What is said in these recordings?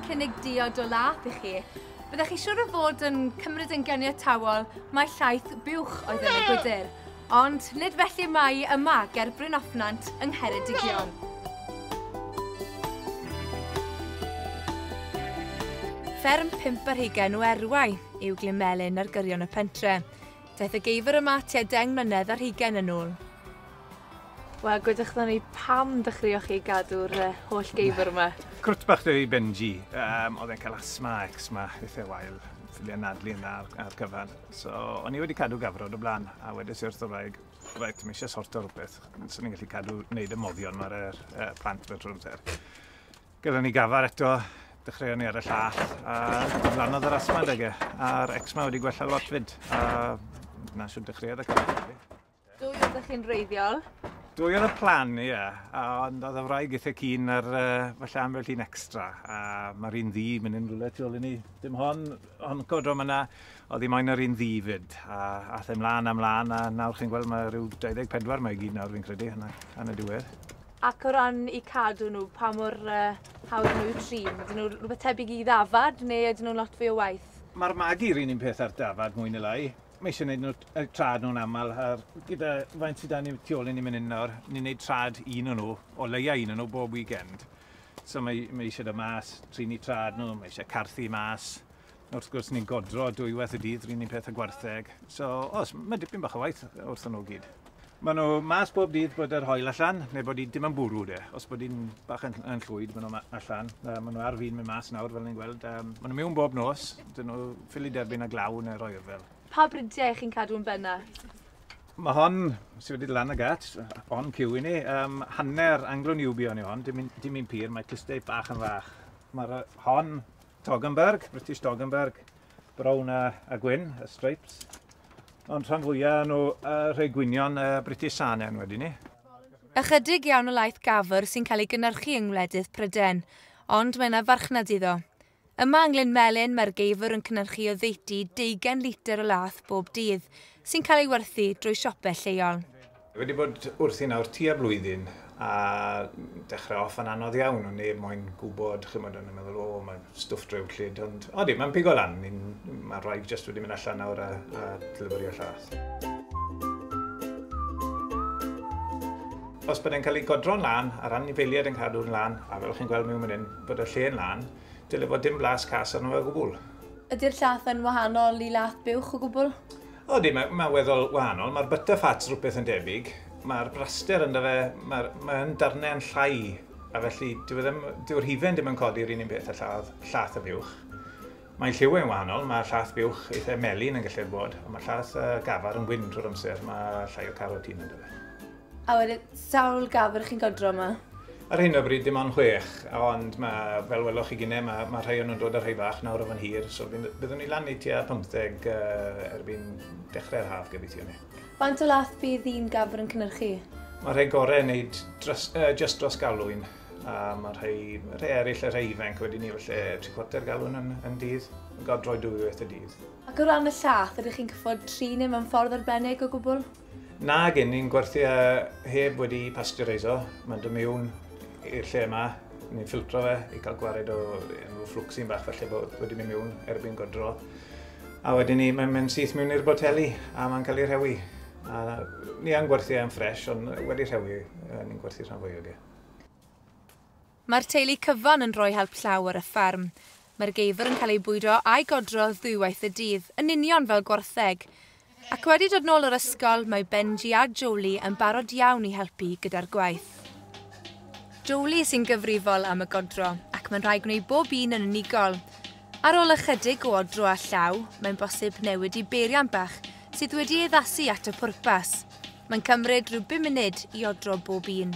cynnig diod o lath i chi. Byddech chi siwr o fod yn cymryd yn gyniatawol mae llaeth buwch oedd yn y gwydr, ond nid felly mae yma ger Bryn Offnant yng Ngheredigion. Fferm pimp ar hugen o erwau. yw Glyn Melyn ar gyrion y pentre. Daeth y geifr yma tua deng mlynedd ar hugain yn ôl. Wel, gwedwch dda ni pam dechreuoch chi gadw'r uh, holl geifr yma? Cwrt bach dwi Benji. Um, oedd e'n cael asma, eczma, eithaf wael. Ffiliau nadlu yna ar, ar cyfan. So, o'n i wedi cadw gafrod o blaen, a wedys i'r wrthwraig, rhaid, mi eisiau sorto rhywbeth. So ni'n gallu cadw wneud y moddion mae'r er, uh, plant mewn trwy'r amser. Gellon ni gafar eto, dechreuon ni ar y llall, a dyflanodd yr asma adeg e. A'r eczma wedi gwella lot fyd, a na siwr dechreuodd y cafar. Dwy oedd ydych chi'n reiddiol? Dwy oedd y plan, ie. Yeah. Ond oedd y wraig eitha cyn ar uh, falle ambell un extra. A mae'r un ddi, mynd yn rhywle tu ôl i ni. Dim hon, hon codro yma, oedd hi moyn yr un ddi fyd. A ath e mlaen a mlaen, a nawr chi'n gweld mae rhyw 24 mae i gyd nawr fi'n credu, yn y, yn y diwedd. Ac o ran eu cadw nhw, pa mor uh, hawdd nhw i'w trin? Ydyn nhw rhywbeth tebyg i ddafad neu ydyn nhw'n lot fwy o waith? Mae'r magi'r un un peth ar dafad mwy neu lai. Mae eisiau gwneud nhw y trad nhw'n aml, a gyda faint sydd da ni tu ôl i ni mynd hyn nawr, ni'n gwneud trad un o'n nhw, o leiau un o'n nhw bob weekend. So mae, mae eisiau da mas, trin i trad nhw, mae eisiau carthu mas, Wrth gwrs, ni'n godro dwywaith y dydd, ry'n ni'n peth y gwartheg. So, os, mae dipyn bach o waith wrth nhw gyd. Mae nhw mas bob dydd bod yr hoel allan, neu bod hi dim yn bwrw de. Os bod hi'n bach yn, yn llwyd, maen nhw allan. Uh, maen nhw ar fin mynd mas nawr, fel ni'n gweld. Um, maen nhw mewn bob nos, dyn nhw ffili derbyn a glaw neu'r oer fel. Pa bridiau chi'n cadw yn benna? Mae hon, sydd wedi lan y gat, on cyw i ni, um, hanner anglo-niwbio ni hon, dim un pur, mae clustau bach yn fach. Mae'r hon Toggenburg, British Toggenburg, brown a, a gwyn, y stripes. Ond rhan fwyaf nhw uh, rhai gwynion uh, British Sanen wedi ni. Ychydig iawn o laeth gafr sy'n cael ei gynnyrchu yng ngwledydd Pryden, ond mae yna farchnad iddo. Yma yng Nglyn Melyn mae'r geifr yn cynnyrchu o ddeutu deugain litr o laeth bob dydd, sy'n cael ei werthu drwy siopau lleol. Wedi bod wrthi nawr tua blwyddyn a dechrau off yn anodd iawn, o neb moyn gwybod, chymod, o'n i'n meddwl, o, mae stwff drewllyd, ond odi, mae'n pigo lan, mae rhaid jyst wedi mynd allan nawr a, a deliverio llath. Os bod e'n cael ei godro'n lan, a'r anifeiliaid yn cadw'n lan, a fel chi'n gweld mewn mynd hyn, bod y lle'n lan, dyle fod dim blas cas arno fe o gwbl. Ydy'r llath yn wahanol i lath buwch o gwbl? Ydy, mae'n ma weddol wahanol. Mae'r butterfats rhywbeth yn debyg. Mae'r braster ynddo fe, mae'n ma darnau yn llai. A felly, dyw'r e ddim, hifen ddim yn codi yr un un peth a lladd, llath y fuwch. Mae'n lliw yn wahanol, mae llath buwch eitha melyn yn gallu'r bod, ond mae llath uh, gafar yn gwyn trwy'r amser, mae llai o carotene ynddo fe. A wedyn, sawl gafr chi'n godro yma? Ar hyn o bryd dim ond chwech, ond mae, fel weloch chi gynnau, mae, mae rhai o'n nhw'n dod ar rhai bach nawr o fan hir, so byddwn ni lan i tua 15 uh, erbyn dechrau'r haf gobeithio ni. Faint o lath bydd un gafr yn cynnyrchu? Mae rhai gorau yn neud dros, uh, just dros galwyn, a mae rhai, rhai eraill, rhai ifanc wedi ni felly tri cwarter galwyn yn, yn dydd, yn godroi dwy waith y dydd. Ac o ran y llath, ydych chi'n cyffod tri neu mewn ffordd arbennig o gwbl? Nag yn, ni'n gwerthu e heb wedi pasteureiso. Mae'n dod mewn i'r lle yma, ni'n ffiltro fe i cael gwared o enw fflwcsin bach felly bod wedi mynd mewn erbyn godro. A wedyn ni, mae'n mynd syth mewn i'r boteli a mae'n cael ei rhewi. A ni yn gwerthu e'n ffres, ond wedi rhewi, ni'n gwerthu rhan fwy o ge. Mae'r teulu cyfan yn rhoi help llaw ar y fferm. Mae'r geifr yn cael ei bwydo a'i godro ddwywaith y dydd, yn union fel gwartheg. Ac wedi dod nôl o'r ysgol, mae Benji a Jolie yn barod iawn i helpu gyda'r gwaith. Jolie sy'n gyfrifol am y godro, ac mae'n rhaid gwneud bob un yn unigol. Ar ôl ychydig o odro â llaw, mae'n bosib newid i beiriant bach sydd wedi ei addasu at y pwrpas. Mae'n cymryd rhyw bum munud i odro bob un.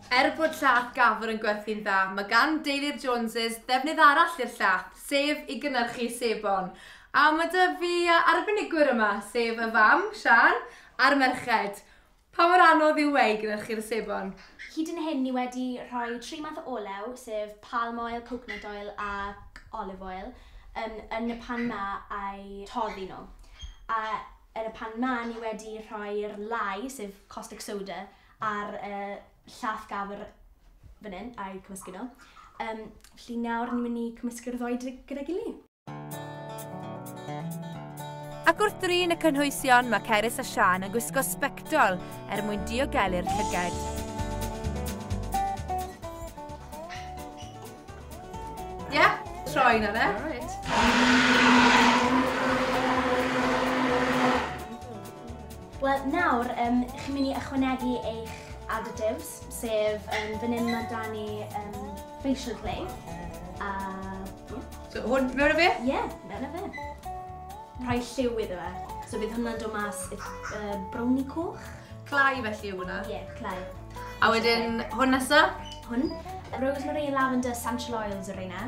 Er bod llaeth Gafr yn gwerthu'n dda, mae gan deulu'r Joneses ddefnydd arall i'r llaeth, sef i gynhyrchu sebon. A mae 'da fi arbenigwyr yma, sef y fam, Siân, a'r merched. Pa mor anodd yw e i gynhyrchu'r sebon? Hyd yn hyn ni wedi rhoi tri math o olew, sef palm oil, coconut oil ac olive oil, yn yn y pan 'ma a'u toddi nhw. A yn y pan 'ma ni wedi rhoi'r lye, sef caustic soda, ar y llath gafr fan hyn a'u cymysgu nhw. Um, felly nawr ni'n mynd i cymysgu'r ddoi gyda gili. Ac wrth drin y cynhwysion, mae Cerys a Sian yn gwisgo sbectol er mwyn diogelu'r llyged. Ie, yeah, troi na fe. Right. Wel, nawr, um, chi'n mynd i ychwanegu eich additives, sef um, fan hyn mae da ni um, facial clay. A... Yeah. So, hwn mewn o fe? Ie, yeah, mewn o fe. Rhai lliw iddo fe. So bydd hwnna'n dod mas uh, browni coch. Clai felly yw hwnna? Ie, yeah, clai. A wedyn hwn nesa? Hwn. Rosemary, lavender, essential oils yr yna.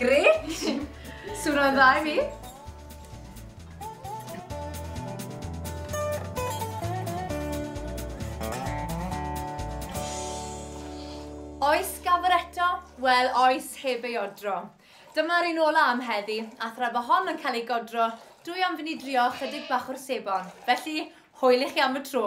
Gret! Sŵn o'n dda i mi. Oes gafr eto? Wel, oes heb ei odro. Dyma'r un ola am heddi, a thra fo hon yn cael ei godro, dwi am fynd i drio chydig bach o'r sebon. Felly, hwyl i chi am y tro.